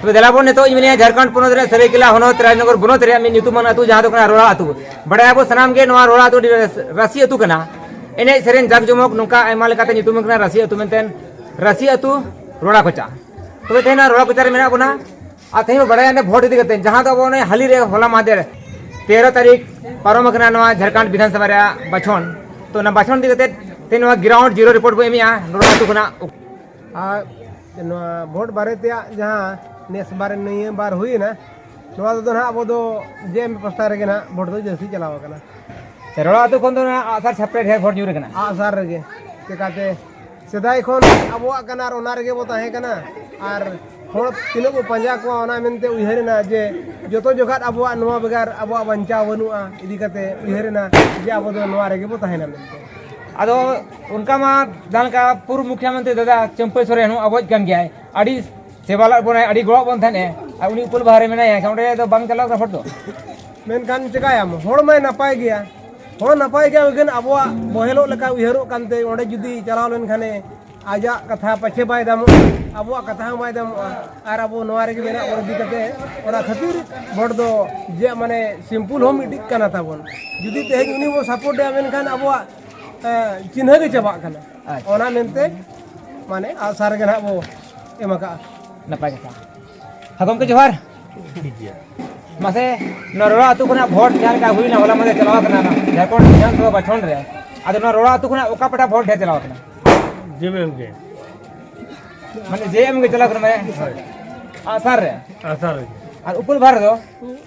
ᱛᱚᱵᱮ ᱫᱮᱞᱟ ᱵᱚᱱ ᱱᱤᱛᱚᱜ ᱤᱧ ᱢᱮᱱᱮᱫᱼᱟ ᱡᱷᱟᱲᱠᱷᱚᱸᱰ ᱯᱚᱱᱚᱛ ᱨᱮ ᱥᱟᱹᱨᱟᱹᱭᱠᱮᱞᱟ ᱦᱚᱱᱚᱛ ᱨᱟᱡᱽᱱᱚᱜᱚᱨ ᱵᱚᱱᱚᱛ ᱨᱮᱭᱟᱜ ᱢᱤᱫ ᱧᱩᱛᱩᱢᱟᱱ ᱟᱹᱛᱩ ᱡᱟᱦᱟᱸ ᱫᱚ ᱠᱟᱱᱟ ᱨᱚᱲᱟ ᱟᱹᱛᱩ ᱵᱟᱰᱟᱭ ᱟᱵᱚ ᱥᱟᱱᱟᱢ ᱜᱮ ᱱᱚᱣᱟ ᱨᱚᱲᱟ ᱟᱹᱛᱩ ᱨᱟᱥᱤ ᱟᱹᱛᱩ ᱠᱟᱱᱟ ᱮᱱᱮᱡ ᱥᱮᱨᱮᱧ ᱡᱟᱠ ᱡᱚᱢᱚᱠ ᱱᱚᱝᱠᱟ ᱟᱭᱢᱟ ᱞᱮᱠᱟᱛᱮ ᱧᱩᱛᱩᱢ ᱠᱟᱱᱟ ᱨᱟᱥᱤ ᱟᱹᱛᱩ ᱢᱮᱱᱛᱮ ᱨᱟᱥᱤ ᱟᱹᱛᱩ ᱨᱚᱲᱟ ᱠᱚᱪᱟ ᱛᱚᱵᱮ ᱛᱮᱦᱮᱧ ᱨᱚᱲᱟ ᱠᱚᱪᱟ ᱨᱮ ᱢᱮᱱᱟᱜ ᱵᱚᱱᱟ ᱟᱨ ᱛᱮᱦᱮᱧ ᱵᱚ ᱵᱟᱰᱟᱭᱟ ᱵᱷᱳᱴ ᱤᱫᱤ ᱠᱟᱛᱮ ᱡᱟᱦᱟᱸ ᱫᱚ ᱟᱵᱚ ᱚᱱᱮ ᱦᱟᱹᱞᱤ ᱨᱮ ᱦᱚᱞᱟ ᱢᱟᱦᱫᱮᱨ ᱛᱮᱨᱚ ᱛᱟᱹᱨᱤᱠᱷ ᱯᱟᱨᱚᱢ ᱟᱠᱟᱱᱟ ᱱᱚᱣᱟ ᱡᱷᱟᱲᱠᱷᱚᱸᱰ ᱵᱤᱫᱷᱟᱱ ᱥᱚᱵᱷᱟ ᱨᱮᱭᱟᱜ ᱵᱟᱪᱷᱚᱱ ᱛᱚ ᱚᱱᱟ ᱵᱟᱪᱷᱚᱱ ᱤᱫᱤ ᱠᱟᱛᱮ ᱛᱮᱦᱮᱧ ᱱᱚᱣᱟ ᱜᱨᱟᱣᱩᱱᱰ ᱡᱤᱨᱳ ᱨᱤᱯᱳᱨᱴ ᱵᱚ ᱮᱢᱮᱜᱼᱟ ᱨᱚᱲᱟ ᱟᱹᱛᱩ ᱠᱷᱚᱱᱟᱜ ᱟᱨ ᱱᱚᱣᱟ ᱵᱷᱳᱴ ᱵᱟᱨᱮ ᱛᱮᱭᱟᱜ ᱡᱟᱦᱟᱸ ᱱᱮᱥ ᱵᱟᱨ ᱱᱤᱭᱟᱹ ᱵᱟᱨ ᱦᱩᱭᱮᱱᱟ ᱱᱚᱣᱟ ᱨᱮᱫᱚ ᱱᱟᱦᱟᱜ ᱟᱵᱚ ᱫᱚ ᱡᱮ ᱮᱢ ᱯᱟᱥᱴᱟ ᱨᱮᱜᱮ ᱱᱟᱦᱟᱜ ᱵᱷᱳᱴ ᱫᱚ ᱡᱟᱹᱥᱛᱤ ᱪᱟᱞᱟᱣ ᱟᱠᱟᱱᱟ ᱨᱚᱲᱟ ᱟᱹᱛᱩ ᱠᱷᱚᱱ ᱫᱚ ᱱᱟᱦᱟᱜ ᱟᱜᱼᱥᱟᱨ ᱪᱷᱟᱯᱨᱮ ᱰᱷᱮᱨ ᱵᱷᱳᱴ ᱧᱩᱨ ᱟᱠᱟᱱᱟ ᱟᱜᱼᱥᱟᱨ ᱨᱮᱜᱮ ᱪᱮᱠᱟᱛᱮ ᱥᱮᱫᱟᱭ ᱠᱷᱚᱱ ᱟᱵᱚᱣᱟᱜ ᱠᱟᱱᱟ ᱟᱨ ᱚᱱᱟ ᱨᱮᱜᱮ ᱵᱚ ᱛᱟᱦᱮᱸ ᱠᱟᱱᱟ ᱟᱨ ᱦᱚᱲ ᱛᱤᱱᱟᱹᱜ ᱵᱚ ᱯᱟᱸᱡᱟ ᱠᱚᱣᱟ ᱚᱱᱟ ᱢᱮᱱᱛᱮ ᱩᱭᱦᱟᱹᱨ ᱮᱱᱟ ᱡᱮ ᱡᱚᱛᱚ ᱡᱚᱠᱷᱟᱡ ᱟᱵᱚᱣᱟᱜ ᱱᱚᱣᱟ ᱵᱮᱜᱟᱨ ᱟᱵᱚᱣᱟᱜ ᱵᱟᱧᱪᱟᱣ ᱵᱟᱹᱱᱩᱜᱼᱟ ᱤᱫᱤ ᱠᱟᱛᱮ ᱩᱭᱦᱟᱹᱨ ᱮᱱᱟ ᱡᱮ ᱟᱵᱚ ᱫᱚ ᱱᱚᱣᱟ ᱨᱮᱜᱮ ᱵᱚ ᱛᱟᱦᱮᱱᱟ ᱢᱮᱱᱛᱮ ᱟᱫᱚ ᱚᱱᱠᱟ ᱢᱟ ᱡᱟᱦᱟᱸ ᱞᱮᱠᱟ ᱯᱩᱨᱵᱚ ᱢᱩᱠᱷᱭᱟᱹ ᱢᱚᱱᱛᱨᱤ ᱫᱟᱫᱟ ᱪᱟᱹᱢᱯᱟᱹᱭ ᱥᱚᱨᱮᱱ ᱦᱚᱸ ᱟᱵᱚᱭᱤᱡ ᱠᱟᱱ ᱜᱮᱭᱟᱭ ᱟᱹᱰᱤ ᱥᱮᱵᱟ ᱞᱟᱜ ᱵᱚᱱᱟᱭ ᱟᱹᱰᱤ ᱜᱚᱲᱚ ᱵᱚᱱ ᱛᱟᱦᱮᱱᱮ ᱟᱨ ᱩᱱᱤ ᱩᱯᱟᱹᱞ ᱵᱟᱦᱟ ᱨᱮ ᱢᱮᱱᱟᱭᱟ ᱮᱱᱠᱷᱟᱱ ᱚᱸᱰᱮ ᱫᱚ ᱵᱟᱝ ᱪᱟᱞᱟᱣ ᱠᱟᱱᱟ ᱦᱚᱲ ᱫᱚ ᱢᱮᱱᱠᱷᱟᱱ ᱪᱮᱠᱟᱭᱟᱢ ᱦᱚᱲ ᱢᱟᱭ ᱱᱟᱯᱟᱭ ᱜᱮᱭᱟ ᱦᱚᱲ ᱱᱟᱯᱟᱭ ᱜᱮᱭᱟ ᱢᱮᱱᱠᱷᱟᱱ ᱟᱵᱚᱣᱟᱜ ᱵᱚᱦᱮᱞᱚᱜ ᱞᱮᱠᱟ ᱩᱭᱦᱟᱹᱨᱚᱜ ᱠᱟᱱᱛᱮ ᱚᱸᱰᱮ ᱡᱩᱫᱤ ᱪᱟᱞᱟᱣ ᱞᱮᱱᱠᱷᱟᱱᱮ ᱟᱡᱟᱜ ᱠᱟᱛᱷᱟ ᱯᱟᱪᱷᱮ ᱵᱟᱭ ᱫᱟᱢᱚᱜᱼᱟ ᱟᱵᱚᱣᱟᱜ ᱠᱟᱛᱷᱟ ᱦᱚᱸ ᱵᱟᱭ ᱫᱟᱢᱚᱜᱼᱟ ᱟᱨ ᱟᱵᱚ ᱱᱚᱣᱟ ᱨᱮᱜᱮ ᱢᱮᱱᱟᱜ ᱵᱚᱱ ᱤᱫᱤ ᱠᱟᱛᱮ ᱚᱱᱟ ᱠᱷᱟᱹᱛᱤᱨ ᱵᱷᱳᱴ ᱫᱚ ᱡᱮ ᱢᱟᱱᱮ ᱥᱤᱢᱯᱩᱞ ᱦᱚᱸ ᱢᱤᱫᱴᱤᱡ ᱠᱟᱱᱟ ᱛᱟᱵᱚᱱ ᱡᱩᱫᱤ ᱛᱮᱦᱮᱧ ᱩᱱᱤ ᱵᱚᱱ ᱥᱟᱯᱳᱨᱴᱮᱭᱟ ᱢᱮᱱᱠᱷᱟᱱ ᱟᱵᱚᱣᱟᱜ ᱪᱤᱱᱦᱟᱹ ᱜᱮ ᱪᱟᱵᱟᱜ ᱠᱟᱱᱟ ᱚᱱᱟ ᱢᱮᱱᱛᱮ ᱢᱟᱱᱮ ᱟᱥᱟᱨ ᱜᱮ ᱱᱟᱦᱟᱜ ᱵᱚ ᱮᱢ ᱟᱠᱟᱜᱼᱟ ᱱᱟᱯᱟᱭ ᱠᱟᱛᱷᱟ ᱦᱮᱸ ᱜᱚᱢᱠᱮ ᱡᱚᱦᱟᱨ ᱴᱷᱤᱠ ᱜᱮᱭᱟ ᱢᱟᱥᱮ ᱱᱚᱣᱟ ᱨᱚᱲᱟ ᱟᱹᱛᱩ ᱠᱷᱚᱱᱟᱜ ᱵᱷᱳᱴ ᱡᱟᱦᱟᱸ ᱞᱮᱠᱟ ᱦᱩᱭᱱᱟ ᱦᱚᱞᱟ ᱢᱟᱫᱮ ᱪᱟᱞᱟᱣ ᱠᱟᱱᱟ ᱡᱷᱟᱲᱠᱷᱚᱸᱰ ᱵᱤᱫᱷᱟᱱᱥᱚᱵᱷᱟ ᱵᱟᱪᱷᱚᱱ ᱨᱮ ᱟᱫᱚ ᱱᱚᱣᱟ ᱨᱚᱲᱟ ᱟᱹᱛᱩ ᱠᱷᱚᱱᱟᱜ ᱚᱠᱟ ᱯᱟᱴᱟ ᱵᱷᱳᱴ ᱰᱷᱮᱨ ᱪᱟᱞᱟᱣ ᱠᱟᱱᱟ ᱡᱮᱢᱮᱢ ᱜᱮ ᱢᱟᱱᱮ ᱡᱮ ᱮᱢ ᱜᱮ ᱪᱟᱞᱟᱣ ᱠᱟᱱᱟ ᱢᱟᱱᱮ ᱟᱥᱟᱨ ᱨᱮ ᱟᱥᱟᱨ ᱨᱮ ᱟᱨ ᱩᱯᱩᱞ ᱵᱷᱟᱨ ᱫᱚ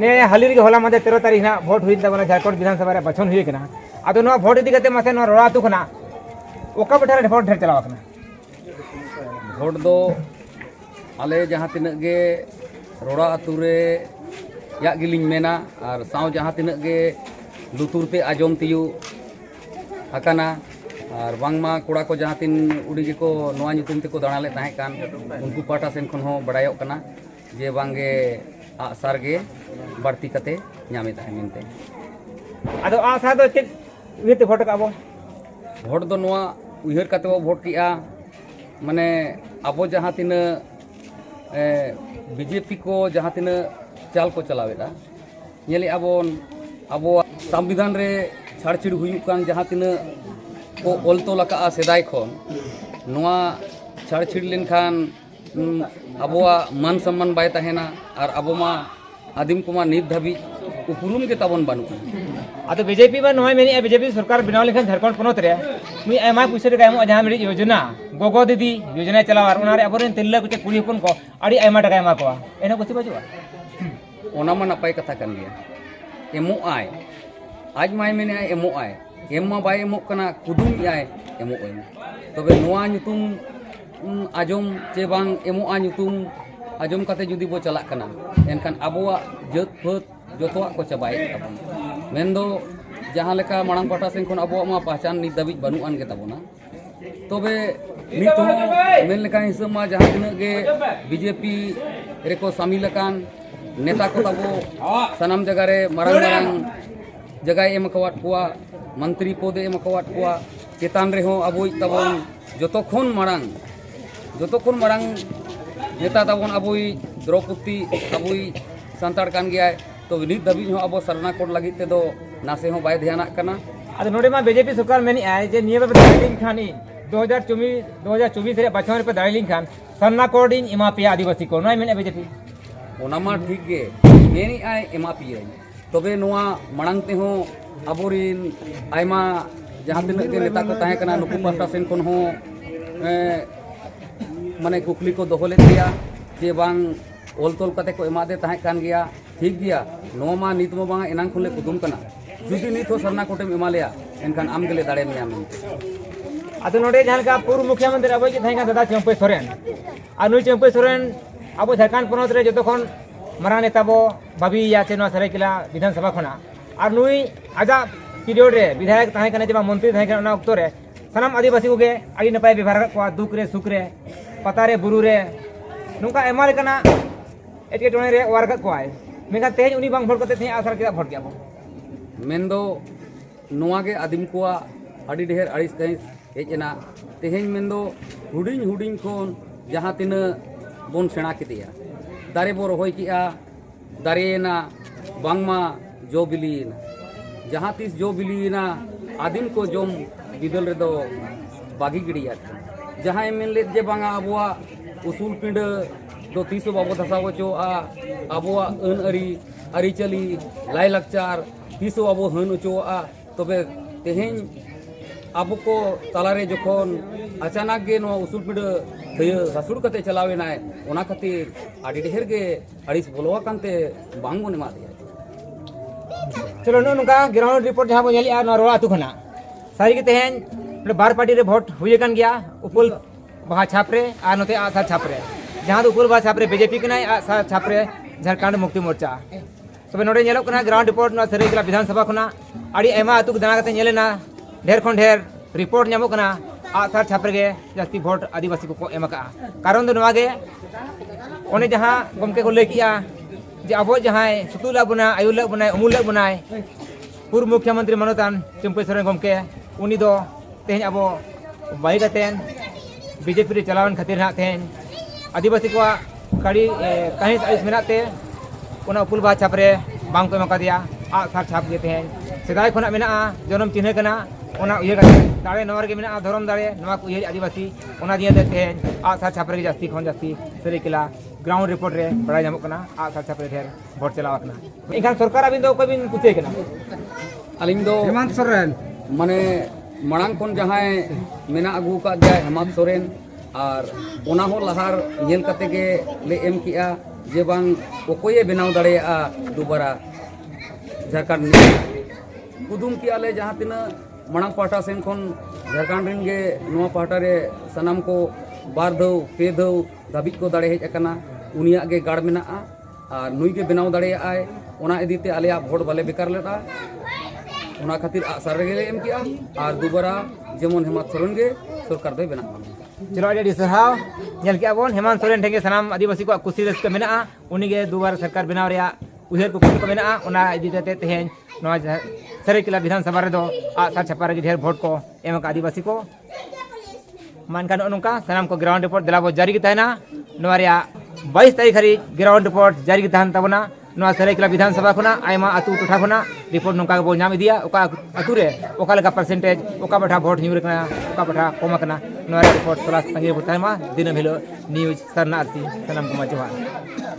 ᱱᱮ ᱦᱟᱹᱞᱤ ᱨᱮᱜᱮ ᱦᱚᱞᱟ ᱢᱟᱫᱮ ᱛᱮᱨᱚ ᱛᱟᱹᱨᱤᱠᱷ ᱱᱟᱜ ᱵᱷᱳᱴ ᱦᱩᱭᱮᱱ ᱛᱟᱵᱚᱱᱟ ᱡᱷᱟᱲᱠᱷᱚᱸᱰ ᱵᱤᱫᱷᱟᱱ ᱥᱚᱵᱷᱟ ᱨᱮ ᱵᱟᱪᱷᱚᱱ ᱦᱩᱭ ᱠᱟᱱᱟ ᱟᱫᱚ ᱱᱚᱣᱟ ᱵᱷᱳᱴ ᱤᱫᱤ ᱠᱟᱛᱮ ᱢᱟᱥᱮ ᱱᱚᱣᱟ ᱨᱚᱲᱟ ᱟᱹᱛᱩ ᱠᱷᱚᱱᱟᱜ ᱚᱠᱟ ᱯᱟᱴᱷᱟ ᱨᱮ ᱵᱷᱳᱴ ᱰᱷᱮᱨ ᱪᱟᱞᱟᱣ ᱠᱟᱱᱟ ᱵᱷᱳᱴ ᱫᱚ ᱟᱞᱮ ᱡᱟᱦᱟᱸ ᱛᱤᱱᱟᱹᱜ ᱜᱮ ᱨᱚᱲᱟ ᱟᱹᱛᱩ ᱨᱮ ᱭᱟᱜ ᱜᱮᱞᱤᱧ ᱢᱮᱱᱟ ᱟᱨ ᱥᱟᱶ ᱡᱟᱦᱟᱸ ᱛᱤᱱᱟᱹᱜ ᱜᱮ ᱞᱩᱛᱩᱨ ᱛᱮ ᱟᱸᱡᱚᱢ ᱛᱤᱭᱳᱜ ᱟᱠᱟᱱᱟ ᱟᱨ ᱵᱟᱝᱢᱟ ᱠᱚᱲᱟ ᱠᱚ ᱡᱟᱦᱟᱸ ᱛᱤᱱ ᱩᱰᱤ ᱜᱮᱠᱚ ᱱᱚᱣᱟ ᱧᱩᱛᱩᱢ ᱛᱮᱠᱚ ᱫᱟᱬᱟ ᱞᱮᱫ ᱛᱟᱦᱮᱸ ᱠᱟᱱ ᱩᱱᱠᱩ ᱯᱟᱦᱴᱟ ᱥᱮᱱ ᱠᱷᱚᱱ ᱦᱚᱸ ᱵᱟᱲᱟᱭᱚᱜ ᱠᱟᱱᱟ ᱡᱮ ᱵᱟᱝᱜᱮ ᱟᱜᱼᱥᱟᱨ ᱜᱮ ᱵᱟᱹᱲᱛᱤ ᱠᱟᱛᱮ ᱧᱟᱢᱮ ᱛᱟᱦᱮᱸ ᱢᱮᱱᱛᱮ ᱟᱫᱚ ᱟᱜᱼᱥᱟᱨ ᱫᱚ ᱪᱮᱫ ᱩᱭᱦᱟᱹᱨᱛᱮ ᱵᱷᱳᱴ ᱠᱟᱜᱼᱟ ᱵᱚ ᱵᱷᱳᱴ ᱫᱚ ᱱᱚᱣᱟ ᱩᱭᱦᱟᱹᱨ ᱠᱟᱛᱮ ᱵᱚ ᱵᱷᱳᱴ ᱠᱮᱜᱼᱟ ᱢᱟᱱᱮ ᱟᱵᱚ ᱡᱟᱦᱟᱸ ᱛᱤᱱᱟᱹᱜ ᱵᱤᱡᱮᱯᱤ ᱠᱚ ᱡᱟᱦᱟᱸ ᱛᱤᱱᱟᱹᱜ ᱪᱟᱞ ᱠᱚ ᱪᱟᱞᱟᱣᱮᱫᱟ ᱧᱮᱞᱮᱜᱼᱟ ᱵᱚᱱ ᱟᱵᱚᱣᱟᱜ ᱥᱚᱝᱵᱤᱫᱷᱟᱱ ᱨᱮ ᱪᱷᱟᱲᱪᱷᱤᱲ ᱦᱩᱭᱩᱜ ᱠᱟᱱ ᱡᱟᱦᱟᱸ ᱛᱤᱱᱟᱹᱜ ᱠᱚ ᱚᱞ ᱛᱚᱞ ᱟᱠᱟᱫᱼᱟ ᱥᱮᱫᱟᱭ ᱠᱷᱚᱱ ᱱᱚᱣᱟ ᱪᱷᱟᱲᱪᱷᱤᱲ ᱞᱮᱱᱠᱷᱟᱱ ᱟᱵᱚᱣᱟᱜ ᱢᱟᱱ ᱥᱚᱱᱢᱟᱱ ᱵᱟᱭ ᱛᱟᱦᱮᱱᱟ ᱟᱨ ᱟᱵᱚ ᱢᱟ ᱟᱹᱫᱤᱢ ᱠᱚᱢᱟ ᱱᱤᱛ ᱫᱷᱟᱹᱵᱤᱡ ᱩᱯᱨᱩᱢ ᱜᱮ ᱛᱟᱵᱚᱱ ᱵᱟᱹᱱᱩᱜᱼᱟ ᱟᱫᱚ ᱵᱤᱡᱮᱯᱤ ᱢᱟ ᱱᱚᱣᱟ ᱢᱮᱱᱮᱜᱼᱟ ᱵᱤᱡᱮᱯᱤ ᱥᱚᱨᱠᱟᱨ ᱵᱮᱱᱟᱣ ᱞᱮᱠᱷᱟᱱ ᱡᱷᱟᱲᱠᱷᱚᱸᱰ ᱯᱚᱱᱚᱛ ᱨᱮ ᱢᱤᱫ ᱟᱭᱢᱟ ᱯᱩᱭᱥᱟᱹ ᱴᱟᱠᱟ ᱮᱢᱚᱜᱼᱟ ᱡᱟᱦᱟᱸ ᱢᱤᱫᱴᱤᱡ ᱭᱳᱡᱚᱱᱟ ᱜᱚᱜᱚ ᱫᱤᱫᱤ ᱭᱳᱡᱚᱱᱟ ᱪᱟᱞᱟᱣ ᱟᱨ ᱚᱱᱟᱨᱮ ᱟᱵᱚᱨᱮᱱ ᱛᱤᱨᱞᱟᱹ ᱠᱚ ᱪᱮ ᱠᱩᱲᱤ ᱦᱚᱯᱚᱱ ᱠᱚ ᱟᱹᱰᱤ ᱟᱭᱢᱟ ᱴᱟᱠᱟ ᱮᱢᱟ ᱠᱚᱣᱟ ᱮᱱᱦᱚᱸ ᱠᱩᱥᱤ ᱵᱟᱹᱪᱩᱜᱼᱟ ᱚᱱᱟ ᱢᱟ ᱱᱟᱯᱟᱭ ᱠᱟᱛᱷᱟ ᱠᱟᱱ ᱜᱮᱭᱟ ᱮᱢᱚᱜ ᱟᱭ ᱟᱡ ᱢᱟᱭ ᱢᱮᱱᱮᱜᱼᱟ ᱮᱢᱚᱜ ᱟᱭ ᱮᱢ ᱢᱟ ᱵᱟᱭ ᱮᱢᱚᱜ ᱠᱟᱱᱟ ᱠᱩᱫᱩᱢᱮᱜᱼᱟᱭ ᱮᱢᱚᱜ ᱟᱹᱧ ᱛᱚᱵᱮ ᱱᱚᱣᱟ ᱧᱩᱛᱩᱢ ᱟᱸᱡᱚᱢ ᱪᱮ ᱵᱟᱝ ᱮᱢᱚᱜᱼᱟ ᱧᱩᱛᱩᱢ ᱟᱸᱡᱚᱢ ᱠᱟᱛᱮ ᱡᱩᱫᱤ ᱵᱚ ᱪᱟᱞᱟᱜ ᱠᱟᱱᱟ ᱮᱱᱠᱷᱟᱱ ᱟᱵᱚᱣᱟᱜ ᱡᱟᱹᱛ ᱯᱷᱟᱹᱛ ᱡᱚᱛᱚᱣᱟᱜ ᱠᱚ ᱪᱟᱵᱟᱭᱮᱫ ᱛᱟᱵᱚᱱ ᱢᱮᱱᱫᱚ ᱡᱟᱦᱟᱸ ᱞᱮᱠᱟ ᱢᱟᱲᱟᱝ ᱯᱟᱦᱴᱟ ᱥᱮᱱ ᱠᱷᱚᱱ ᱟᱵᱚᱣᱟᱜ ᱢᱟ ᱯᱟᱦᱪᱟᱱ ᱱᱤᱛ ᱫᱷᱟᱹᱵᱤᱡ ᱵᱟᱹᱱᱩᱜ ᱟᱱ ᱜᱮ ᱛᱟᱵᱚᱱᱟ ᱛᱚᱵᱮ ᱱᱤᱛ ᱦᱚᱸ ᱢᱮᱱ ᱞᱮᱠᱟᱱ ᱦᱤᱥᱟᱹᱵ ᱢᱟ ᱡᱟᱦᱟᱸ ᱛᱤᱱᱟᱹᱜ ᱜᱮ ᱵᱤᱡᱮᱯᱤ ᱨᱮᱠᱚ ᱥᱟᱢᱤᱞ ᱟᱠᱟᱱ ᱱᱮᱛᱟ ᱠᱚ ᱛᱟᱵᱚ ᱥᱟᱱᱟᱢ ᱡᱟᱭᱜᱟ ᱨᱮ ᱢᱟᱨᱟᱝ ᱢᱟᱨᱟᱝ ᱡᱟᱭᱜᱟᱭ ᱮᱢ ᱟᱠᱟᱫ ᱠᱚᱣᱟ ᱢᱚᱱᱛᱨᱤ ᱯᱚᱫᱮ ᱮᱢ ᱟᱠᱟᱫ ᱠᱚᱣᱟ ᱪᱮᱛᱟᱱ ᱨᱮᱦᱚᱸ ᱟᱵᱚᱭᱤᱡ ᱛᱟᱵᱚᱱ ᱡᱚᱛᱚ ᱠᱷᱚᱱ ᱢᱟᱲᱟᱝ ᱡᱚᱛᱚ ᱠᱷᱚᱱ ᱢᱟᱲᱟᱝ ᱱᱮᱛᱟ ᱛᱟᱵᱚᱱ ᱟᱵᱚᱭ ᱫᱨᱚᱯᱚᱫᱤ ᱟᱵᱚᱭ ᱥᱟᱱᱛᱟᱲ ᱠᱟᱱ ᱜᱮᱭᱟᱭ ᱛᱚ ᱱᱤᱛ ᱫᱷᱟᱹᱵᱤᱡ ᱦᱚᱸ ᱟᱵᱚ ᱥᱟᱨᱱᱟ ᱠᱳᱰ ᱞᱟᱹᱜᱤᱫ ᱛᱮᱫᱚ ᱱᱟᱥᱮ ᱦᱚᱸ ᱵᱟᱭ ᱫᱷᱮᱭᱟᱱᱟᱜ ᱠᱟᱱᱟ ᱟᱫᱚ ᱱᱚᱰᱮ ᱢᱟ ᱵᱤᱡᱮᱯᱤ ᱥᱚᱨᱠᱟᱨ ᱢᱮᱱᱮᱫᱼᱟᱭ ᱡᱮ ᱱᱤᱭᱟᱹ ᱵᱟᱨ ᱫᱟᱲᱮᱞᱤᱧ ᱠᱷᱟᱱ ᱤᱧ ᱫᱩ ᱦᱟᱡᱟᱨ ᱪᱚᱵᱵᱤᱥ ᱫᱩ ᱦᱟᱡᱟᱨ ᱪᱚᱵᱵᱤᱥ ᱨᱮ ᱵᱟᱪᱷᱚᱱ ᱨᱮᱯᱮ ᱫᱟᱲᱮᱞᱤᱧ ᱠᱷᱟᱱ ᱥᱟᱨᱱᱟ ᱠᱳᱰ ᱤᱧ ᱮᱢᱟ ᱯᱮᱭᱟ ᱟᱹᱫᱤᱵᱟᱹᱥᱤ ᱠᱚ ᱱᱚᱣᱟᱭ ᱢᱮᱱᱮᱫᱼᱟ ᱵᱤᱡᱮᱯᱤ ᱚᱱᱟ ᱢᱟ ᱴᱷᱤᱠ ᱜᱮ ᱢᱮᱱᱮᱫᱼᱟᱭ ᱮᱢᱟ ᱯᱮᱭᱟᱹᱧ ᱛᱚᱵᱮ ᱱᱚᱣᱟ ᱢᱟᱲᱟᱝ ᱛᱮᱦᱚᱸ ᱟᱵᱚᱨᱤᱱ ᱟᱭᱢᱟ ᱡᱟᱦᱟᱸ ᱛᱤᱱᱟᱹᱜ ᱜᱮ ᱱᱮᱛᱟ ᱠᱚ ᱛᱟᱦᱮᱸ ᱠᱟᱱᱟ ᱱᱩᱠᱩ ᱯᱟᱦᱴᱟ ᱥᱮᱱ ᱠᱷᱚᱱ ᱦᱚᱸ ᱢᱟᱱᱮ ᱠᱩᱠᱞᱤ ᱠᱚ ᱫᱚᱦᱚ ᱞᱮᱫ ᱜᱮᱭᱟ ᱡᱮ ᱵᱟᱝ ᱚᱞ ᱛᱚᱞ ᱠᱟᱛᱮ ᱠᱚ ᱮᱢᱟᱫᱮ ᱛᱟᱦᱮᱸ ᱠᱟᱱ ᱜᱮᱭᱟ ᱴᱷᱤᱠ ᱜᱮᱭᱟ ᱱᱚᱣᱟ ᱢᱟ ᱱᱤᱛ ᱢᱟ ᱵᱟᱝ ᱮᱱᱟᱝ ᱠᱷᱚᱱ ᱞᱮ ᱠᱩᱫᱩᱢ ᱠᱟᱱᱟ ᱡᱩᱫᱤ ᱱᱤᱛ ᱦᱚᱸ ᱥᱟᱨᱱᱟ ᱠᱳᱴᱮᱢ ᱮᱢᱟ ᱞᱮᱭᱟ ᱮᱱᱠᱷᱟᱱ ᱟᱢ ᱜᱮᱞᱮ ᱫᱟᱲᱮ ᱢᱮᱭᱟ ᱢᱮᱱᱛᱮ ᱟᱫᱚ ᱱᱚᱰᱮ ᱡᱟᱦᱟᱸ ᱞᱮᱠᱟ ᱯᱩᱨᱩ ᱢᱩᱠᱷᱭᱟᱢᱚᱱᱛᱨᱤ ᱟᱵᱚ ᱡᱮ ᱛᱟᱦᱮᱸ ᱠᱟᱱ ᱫᱟᱫᱟ ᱪᱚᱢᱯᱮ ᱥᱚᱨᱮᱱ ᱟᱨ ᱱᱩᱭ ᱪᱚᱢᱯᱮ ᱥᱚᱨᱮᱱ ᱟᱵᱚ ᱡᱷᱟᱲᱠᱷᱚᱸᱰ ᱯᱚᱱᱚᱛ ᱨᱮ ᱡᱚᱛᱚ ᱠᱷᱚᱱ ᱢᱟᱨᱟᱝ ᱱᱮᱛᱟ ᱵᱚ ᱵᱟᱵᱤ ᱭᱟ ᱪᱮ ᱱᱚᱣᱟ ᱥᱟᱨᱟᱭᱠᱮᱞᱟ ᱵᱤᱫᱷᱟᱱ ᱥᱚᱵᱷᱟ ᱠᱷᱚᱱᱟ ᱟᱨ ᱱᱩᱭ ᱟᱡᱟᱜ ᱯᱤᱨᱤᱭᱚᱰ ᱨᱮ ᱵᱤᱫᱷᱟᱭᱚᱠ ᱛᱟᱦᱮᱸ ᱠᱟᱱᱟ ᱡᱮ ᱵᱟᱝ ᱢᱚᱱᱛᱨᱤ ᱛᱟᱦᱮᱸ ᱠᱟᱱᱟ ᱚᱱᱟ ᱚᱠᱛᱚ ᱨᱮ ᱥᱟᱱᱟᱢ ᱟᱹᱫᱤᱵᱟᱹᱥᱤ ᱠᱚᱜᱮ ᱟᱹᱰᱤ ᱱᱟᱯᱟᱭ ᱵᱮᱵᱷᱟᱨ ᱟᱠᱟᱫ ᱠᱚᱣᱟ ᱫᱩᱠ ᱨᱮ ᱥᱩᱠ ᱨᱮ ᱯᱟᱛᱟ ᱨᱮ ᱵᱩᱨᱩ ᱨᱮ ᱱᱚᱝᱠᱟ ᱟᱭᱢᱟ ᱞᱮᱠᱟᱱᱟᱜ ᱮᱴᱠᱮᱴᱚᱬᱮ ᱨᱮ ᱚᱣᱟᱨ ᱟᱠᱟᱫ ᱠᱚᱣᱟᱭ ᱢᱮᱱᱠᱷᱟᱱ ᱛᱮᱦᱮᱧ ᱩᱱᱤ ᱵᱟᱝ ᱵᱷᱳᱴ ᱠᱟᱛᱮ ᱛᱮᱦᱮᱧ ᱟᱥᱲᱟ ᱪᱮᱫᱟᱜ ᱵᱷᱳᱴ ᱠᱮᱫᱟ ᱵᱚᱱ ᱢᱮᱱᱫᱚ ᱱᱚᱣᱟ ᱜᱮ ᱟᱹᱫᱤᱢ ᱠᱚᱣᱟᱜ ᱟᱹᱰᱤ ᱰᱷᱮᱨ ᱟᱹᱲᱤᱥ ᱛᱟᱹᱦᱤᱥ ᱦᱮᱡ ᱮᱱᱟ ᱛᱮᱦᱮᱧ ᱢᱮᱱᱫᱚ ᱦᱩᱰᱤᱧ ᱦᱩᱰᱤᱧ ᱠᱷᱚᱱ ᱡᱟᱦᱟᱸ ᱛᱤᱱᱟᱹᱜ ᱵᱚᱱ ᱥᱮᱬᱟ ᱠᱮᱫᱮᱭᱟ ᱫᱟᱨᱮ ᱵᱚ ᱨᱚᱦᱚᱭ ᱠᱮᱜᱼᱟ ᱫᱟᱨᱮᱭᱮᱱᱟ ᱵᱟᱝᱢᱟ ᱡᱚ ᱵᱤᱞᱤᱭᱮᱱᱟ ᱡᱟᱦᱟᱸ ᱛᱤᱥ ᱡᱚ ᱵᱤᱞᱤᱭᱮᱱᱟ ᱟᱹᱫᱤᱢ ᱠᱚ ᱡᱚᱢ ᱵᱤᱫᱟᱹᱞ ᱨᱮᱫᱚ ᱵᱟᱹᱜᱤ ᱜᱤᱰᱤᱭᱟᱫ ᱠᱟᱱᱟ ᱡᱟᱦᱟᱸᱭ ᱢᱮᱱ ᱞᱮᱫ ᱡᱮ ᱵᱟᱝᱟ ᱟᱵᱚᱣᱟᱜ ᱩᱥᱩᱞ ᱯᱤᱸᱰᱟᱹ ᱫᱚ ᱛᱤᱥ ᱦᱚᱸ ᱵᱟᱵᱚ ᱫᱷᱟᱥᱟᱣ ᱦᱚᱪᱚᱣᱟᱜᱼᱟ ᱟᱵᱚᱣᱟᱜ ᱟᱹᱱ ᱟᱹᱨᱤ ᱟᱹᱨᱤᱪᱟᱹᱞᱤ ᱞᱟᱭᱞᱟᱠᱪᱟᱨ ᱛᱤᱥ ᱦᱚᱸ ᱵᱟᱵᱚ ᱦᱟᱹᱱ ᱚᱪᱚᱣᱟᱜᱼᱟ ᱛᱚᱵᱮ ᱛᱮᱦᱮᱧ ᱟᱵᱚ ᱠᱚ ᱛᱟᱞᱟᱨᱮ ᱡᱚᱠᱷᱚᱱ ᱟᱪᱟᱱᱟᱠ ᱜᱮ ᱱᱚᱣᱟ ᱩᱥᱩᱞ ᱯᱤᱰᱟᱹ ᱛᱷᱟᱹᱭᱟᱹ ᱦᱟᱹᱥᱩᱲ ᱠᱟᱛᱮ ᱪᱟᱞᱟᱣ ᱮᱱᱟᱭ ᱚᱱᱟ ᱠᱷᱟᱹᱛᱤᱨ ᱟᱹᱰᱤ ᱰᱷᱮᱨ ᱜᱮ ᱟᱹᱲᱤᱥ ᱵᱚᱞᱚ ᱟᱠᱟᱱᱛᱮ ᱵᱟᱝ ᱵᱚᱱ ᱮᱢᱟᱫ ᱫᱮᱭᱟ ᱪᱚᱞᱚ ᱱᱚᱜᱼᱚ ᱱᱚᱝᱠᱟ ᱜᱨᱟᱣᱩᱱᱰ ᱨᱤᱯᱳᱨᱴ ᱡᱟᱦᱟᱸ ᱵᱚᱱ ᱧᱮᱞᱮᱜᱼᱟ ᱱᱚᱣᱟ ᱨᱚᱲᱟ ᱟᱹᱛᱩ ᱠᱷᱚᱱᱟᱜ ᱥᱟᱹᱨᱤ ᱜᱮ ᱛᱮᱦᱮᱧ ᱱᱚᱰᱮ ᱵᱟᱨ ᱯᱟᱨᱴᱤ ᱨᱮ ᱵᱷᱳᱴ ᱦᱩᱭ ᱟᱠᱟᱱ ᱜᱮᱭᱟ ᱩᱯᱩᱞ ᱵᱟᱦᱟ ᱪᱷᱟᱯ ᱨᱮ ᱟᱨ ᱱᱚᱛᱮ ᱟᱜᱥᱟᱨ ᱪᱷᱟᱯ ᱨᱮ ᱡᱟᱦᱟᱸ ᱫᱚ ᱩᱯᱩᱞ ᱵᱟᱦᱟ ᱪᱷᱟᱯ ᱨᱮ ᱵᱤᱡᱮᱯᱤ ᱠᱟᱱᱟᱭ ᱟᱜᱥᱟᱨ ᱪᱷᱟᱯ ᱨᱮ ᱡᱷᱟᱲᱠᱷᱚᱸᱰ ᱢᱩᱠᱛᱤ ᱢᱳᱨᱪᱟ ᱛᱚᱵᱮ ᱱᱚᱰᱮ ᱧᱮᱞᱚᱜ ᱠᱟᱱᱟ ᱜᱨᱟᱣᱩᱱᱰ ᱨᱤᱯᱳᱨᱴ ᱱᱚᱣᱟ ᱥᱟᱹᱨᱟᱹᱭᱠᱮᱞᱟ ᱵᱤᱫᱷᱟᱱ ᱥᱚᱵᱷᱟ ᱠᱷᱚᱱᱟᱜ ᱟᱹᱰᱤ ᱟᱭᱢᱟ ᱟᱹᱛᱩ ᱠᱚ ᱫᱟᱬᱟ ᱠᱟᱛᱮ ᱧᱮᱞᱮᱱᱟ ᱰᱷᱮᱨ ᱠᱷᱚᱱ ᱰᱷᱮᱨ ᱨᱤᱯᱳᱨᱴ ᱧᱟᱢᱚᱜ ᱠᱟᱱᱟ ᱟᱜᱼᱥᱟᱨ ᱪᱷᱟᱯ ᱨᱮᱜᱮ ᱡᱟᱹᱥᱛᱤ ᱵᱷᱳᱴ ᱟᱹᱫᱤᱵᱟᱹᱥᱤ ᱠᱚᱠᱚ ᱮᱢ ᱟᱠᱟᱜᱼᱟ ᱠᱟᱨᱚᱱ ᱫᱚ ᱱᱚᱣᱟ ᱜᱮ ᱚᱱᱮ ᱡᱟᱦᱟᱸ ᱜᱚᱢᱠᱮ ᱠᱚ ᱞᱟᱹᱭ ᱠᱮᱜᱼᱟ ᱡᱮ ᱟᱵᱚ ᱡᱟᱦᱟᱸᱭ ᱥᱩᱛᱩᱜ ᱞᱮᱫ ᱵᱚᱱᱟ ᱟᱹᱭᱩᱨ ᱞᱮᱫ ᱵᱚᱱᱟᱭ ᱩᱢᱩᱞ ᱞᱮᱫ ᱵᱚᱱᱟᱭ ᱯᱩᱨᱵ ᱢᱩᱠᱷᱭᱟᱢᱚᱱᱛᱨᱤ ᱢᱟᱱᱚᱛᱟᱱ ᱪᱩᱢᱯᱟᱹᱭ ᱥᱚᱨᱮᱱ ᱜᱚᱢᱠᱮ ᱩᱱᱤ ᱫᱚ ᱛᱮᱦᱮᱧ ᱟᱵᱚ ᱵᱟᱭ ᱠᱟᱛᱮᱱ ᱵᱤᱡᱮᱯᱤ ᱨᱮ ᱪᱟᱞᱟᱣᱮᱱ ᱠᱷᱟᱹᱛᱤᱨ ᱦᱟᱸᱜ ᱛᱮᱦᱮᱧ ᱟᱹᱫᱤᱵᱟᱹᱥᱤ ᱠᱚᱣᱟᱜ ᱠᱟᱹᱲᱤ ᱠᱟᱹᱦᱤᱥ ᱟᱹᱲᱤᱥ ᱢᱮᱱᱟᱜ ᱛᱮ ᱚᱱᱟ ᱩᱯᱩᱞ ᱵᱟᱦᱟ ᱪᱷᱟᱯ ᱨᱮ ᱵᱟᱝ ᱠᱚ ᱮᱢ ᱟᱠᱟᱫᱮᱭᱟ ᱟᱜ ᱥᱟᱨ ᱪᱷᱟᱯ ᱜᱮ ᱛᱮᱦᱮᱧ ᱥᱮᱫᱟᱭ ᱠᱷᱚᱱᱟᱜ ᱢᱮᱱᱟᱜᱼᱟ ᱡᱚᱱᱚᱢ ᱪᱤᱱᱦᱟᱹ ᱠᱟᱱᱟ ᱚᱱᱟ ᱩᱭᱦᱟᱹᱨ ᱠᱟᱛᱮ ᱫᱟᱲᱮ ᱱᱚᱣᱟ ᱨᱮᱜᱮ ᱢᱮᱱᱟᱜᱼᱟ ᱫᱷᱚᱨᱚᱢ ᱫᱟᱲᱮ ᱱᱚᱣᱟ ᱠᱚ ᱩᱭᱦᱟᱹᱨ ᱟᱹᱫᱤᱵᱟᱹᱥᱤ ᱚᱱᱟ ᱫᱤᱭᱮ ᱛᱮ ᱛᱮᱦᱮᱧ ᱟᱜ ᱥᱟᱨ ᱪᱷᱟᱯ ᱨᱮᱜᱮ ᱡᱟᱹᱥᱛᱤ ᱠᱷᱚᱱ ᱡᱟᱹᱥᱛᱤ ᱥᱟᱹᱨᱟᱹᱭᱠᱮᱞᱟ ᱜᱨᱟᱣᱩᱱᱰ ᱨᱤᱯᱳᱨᱴ ᱨᱮ ᱵᱟᱲᱟᱭ ᱧᱟᱢᱚᱜ ᱠᱟᱱᱟ ᱟᱜ ᱥᱟᱨ ᱪᱷᱟᱯ ᱨᱮ ᱰᱷᱮᱨ ᱵᱷᱳᱴ ᱪᱟᱞᱟᱣ ᱟᱠᱟᱱᱟ ᱮᱱᱠᱷᱟᱱ ᱥᱚᱨᱠᱟᱨ ᱟᱹᱵᱤᱱ ᱫᱚ ᱚᱠᱚᱭ ᱵᱤᱱ ᱠᱩᱥᱤᱭᱟᱭ ᱠᱟᱱᱟ ᱟᱹᱞᱤᱧ ᱫᱚ ᱦᱮᱢᱟᱱᱛ ᱥᱚᱨᱮᱱ ᱢᱟᱱᱮ ᱢᱟᱲᱟᱝ ᱠᱷᱚᱱ ᱡᱟᱦᱟᱸᱭ ᱢᱮᱱᱟᱜ ᱟᱹᱜᱩ ᱟᱠᱟᱫ ᱜᱮᱭᱟ ᱦᱮᱢᱟᱱᱛ ᱥᱚᱨᱮᱱ ᱟᱨ ᱚᱱᱟ ᱦᱚᱸ ᱞᱟᱦᱟ ᱧᱮᱞ ᱠᱟᱛᱮ ᱜᱮ ᱞᱮ ᱮᱢ ᱠᱮᱜᱼᱟ ᱡᱮ ᱵᱟᱝ ᱚᱠᱚᱭᱮ ᱵᱮᱱᱟᱣ ᱫᱟᱲᱮᱭᱟᱜᱼᱟ ᱫᱩᱵᱟᱨᱟ ᱡᱷᱟᱲᱠᱷᱚᱸᱰ ᱨᱤᱱᱤᱡ ᱠᱩᱫᱩᱢ ᱠᱮᱜᱼᱟ ᱞᱮ ᱡᱟᱦᱟᱸ ᱛᱤᱱᱟᱹᱜ ᱢᱟᱲᱟᱝ ᱯᱟᱦᱴᱟ ᱥᱮᱱ ᱠᱷᱚᱱ ᱡᱷᱟᱲᱠᱷᱚᱸᱰ ᱨᱮᱱ ᱜᱮ ᱱᱚᱣᱟ ᱯᱟᱦᱴᱟ ᱨᱮ ᱥᱟᱱᱟᱢ ᱠᱚ ᱵᱟᱨ ᱫᱷᱟᱣ ᱯᱮ ᱫᱷᱟᱣ ᱫᱷᱟᱹᱵᱤᱡ ᱠᱚ ᱫᱟᱲᱮ ᱦᱮᱡ ᱟᱠᱟᱱᱟ ᱩᱱᱤᱭᱟᱜ ᱜᱮ ᱜᱟᱲ ᱢᱮᱱᱟᱜᱼᱟ ᱟᱨ ᱱᱩᱭ ᱜᱮ ᱵᱮᱱᱟᱣ ᱫᱟᱲᱮᱭᱟᱜ ᱟᱭ ᱚᱱᱟ ᱤᱫᱤ ᱛᱮ ᱟᱞᱮᱭᱟᱜ ᱵᱷᱳᱴ ᱵᱟᱞᱮ ᱵᱮᱠᱟᱨ ᱞᱮᱫᱼᱟ ᱚᱱᱟ ᱠᱷᱟᱹᱛᱤᱨ ᱟᱥᱟ ᱨᱮᱜᱮ ᱞᱮ ᱮᱢ ᱠᱮᱫᱼᱟ ᱟᱨ ᱫᱩᱵᱟᱨᱟ ᱡᱮᱢᱚᱱ ᱦᱮᱢᱟᱱᱛ ᱥᱚᱨᱮᱱ ᱜᱮ ᱥᱚᱨᱠᱟᱨ ᱫᱚᱭ ᱵᱮᱱᱟᱜ ᱢᱟ ᱪᱚᱞᱚ ᱟᱹᱰᱤ ᱟᱹᱰᱤ ᱥᱟᱨᱦᱟᱣ ᱧᱮᱞ ᱠᱮᱫᱼᱟ ᱵᱚᱱ ᱦᱮᱢᱟᱱᱛ ᱥᱚᱨᱮᱱ ᱴᱷᱮᱱ ᱜᱮ ᱥᱟᱱᱟᱢ ᱟᱹᱫᱤᱵᱟᱹᱥᱤ ᱠᱚᱣᱟᱜ ᱠᱩᱥᱤ ᱨᱟᱹᱥᱠᱟᱹ ᱢᱮᱱᱟᱜᱼᱟ ᱩᱱᱤ ᱜᱮ ᱫᱩᱵᱟᱨᱟ ᱥᱚᱨᱠᱟᱨ ᱵᱮᱱᱟᱣ ᱨᱮᱭᱟᱜ ᱩᱭᱦᱟᱹᱨ ᱠᱩᱠᱢᱩ ᱠᱚ ᱢᱮᱱᱟᱜᱼᱟ ᱚᱱᱟ ᱤᱫᱤ ᱠᱟᱛᱮ ᱛᱮᱦᱮᱧ ᱱᱚᱣᱟ ᱥᱟᱹᱨᱟᱹᱭᱠᱮᱞᱟ ᱵᱤᱫᱷᱟᱱ ᱥᱚᱵᱷᱟ ᱨᱮᱫᱚ ᱟᱜᱼᱥᱟᱨ ᱪᱷᱟᱯᱟ ᱨᱮᱜᱮ ᱰᱷᱮᱨ ᱵᱷᱳᱴ ᱠᱚ ᱮᱢ ᱟᱠᱟᱫ ᱟᱹᱫᱤᱵᱟᱹᱥᱤ ᱠᱚ ᱢᱟᱱᱠᱷᱟᱱ ᱱᱚᱜᱼᱚ ᱱᱚᱝᱠᱟ ᱥᱟᱱᱟᱢ ᱠᱚ ᱜᱨᱟᱣᱩᱱᱰ ᱨᱤᱯᱳᱨᱴ ᱫᱮᱞᱟ ᱵᱚ ᱡᱟᱹᱨᱤ ᱜᱮ ᱛᱟᱦᱮᱱᱟ ᱱᱚᱣᱟ ᱨᱮᱭᱟᱜ ᱵᱟᱭᱤᱥ ᱛᱟᱹᱨᱤᱠᱷ ᱦᱟᱹᱨᱤᱡ ᱜᱨᱟᱣᱩᱱᱰ ᱨᱤᱯᱳᱨᱴ ᱡᱟᱹᱨᱤ ᱜᱮ ᱛᱟᱦᱮᱱ ᱛᱟᱵᱚᱱᱟ ᱱᱚᱣᱟ ᱥᱟᱹᱨᱟᱹᱭᱠᱮᱞᱟ ᱵᱤᱫᱷᱟᱱ ᱥᱚᱵᱷᱟ ᱠᱷᱚᱱᱟᱜ ᱟᱭᱢᱟ ᱟᱹᱛᱩ ᱴᱚᱴᱷᱟ ᱠᱷᱚᱱᱟᱜ ᱨᱤᱯᱳᱨᱴ ᱱᱚᱝᱠᱟ ᱜᱮᱵᱚ ᱧᱟᱢ ᱤᱫᱤᱭᱟ ᱚᱠᱟ ᱟᱹᱛᱩ ᱨᱮ ᱚᱠᱟ ᱞᱮᱠᱟ ᱯᱟᱨᱥᱮᱱᱴᱮᱡᱽ ᱚᱠᱟ ᱯᱟᱴᱷᱟ ᱵᱷᱳᱴ ᱧᱩᱨ ᱟᱠᱟᱱᱟ ᱚᱠᱟ ᱯᱟᱴᱷᱟ ᱠᱚᱢ ᱟᱠᱟᱱᱟ ᱱᱚᱣᱟ ᱨᱮᱭᱟᱜ ᱨᱤᱯᱳᱨᱴ ᱛᱚᱞᱟᱥ ᱛᱟᱺᱜᱤ ᱨᱮᱵᱚ ᱛᱟᱦᱮᱱ ᱢᱟ ᱫᱤᱱᱟᱹᱢ ᱦᱤᱞᱳᱜ ᱱᱤᱭᱩᱡᱽ ᱥᱟᱨᱱᱟ ᱟᱨᱥᱤ ᱥᱟᱱᱟᱢ ᱠᱚᱢᱟ ᱡᱚᱦᱟᱨ